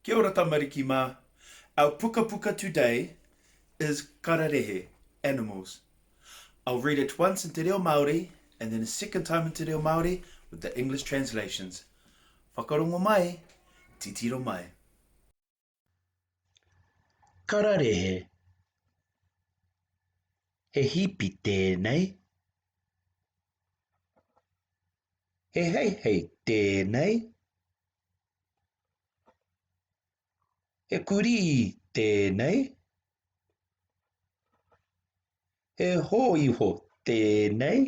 Kia ora tamariki mā. Our pukapuka today is kararehe, animals. I'll read it once in te reo Māori and then a second time in te reo Māori with the English translations. Whakarongo mai, titiro mai. Kararehe He hipi tēnei He heihei tēnei He kurī tēnei He hōiho tēnei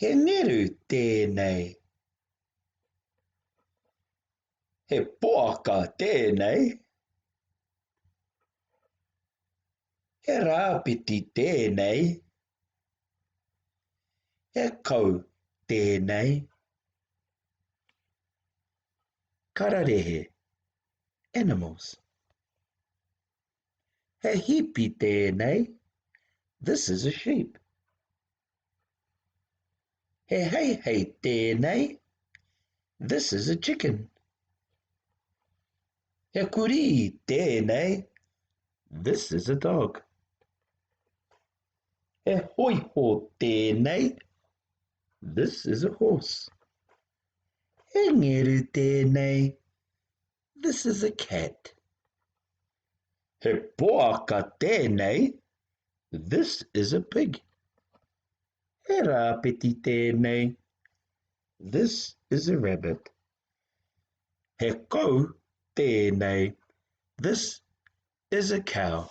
He ngeru tēnei. He poaka tēnei. He rāpiti tēnei. He kau tēnei. Kararehe, animals. He hipi tēnei. This is a sheep. He heihei tēnei. This is a chicken. He kurī tēnei. This is a dog. He hoiho tēnei. This is a horse. He ngeru tēnei. This is a cat. He poaka tēnei. This is a pig. He rāpeti tēnei. This is a rabbit. He kou tēnei. This is a cow.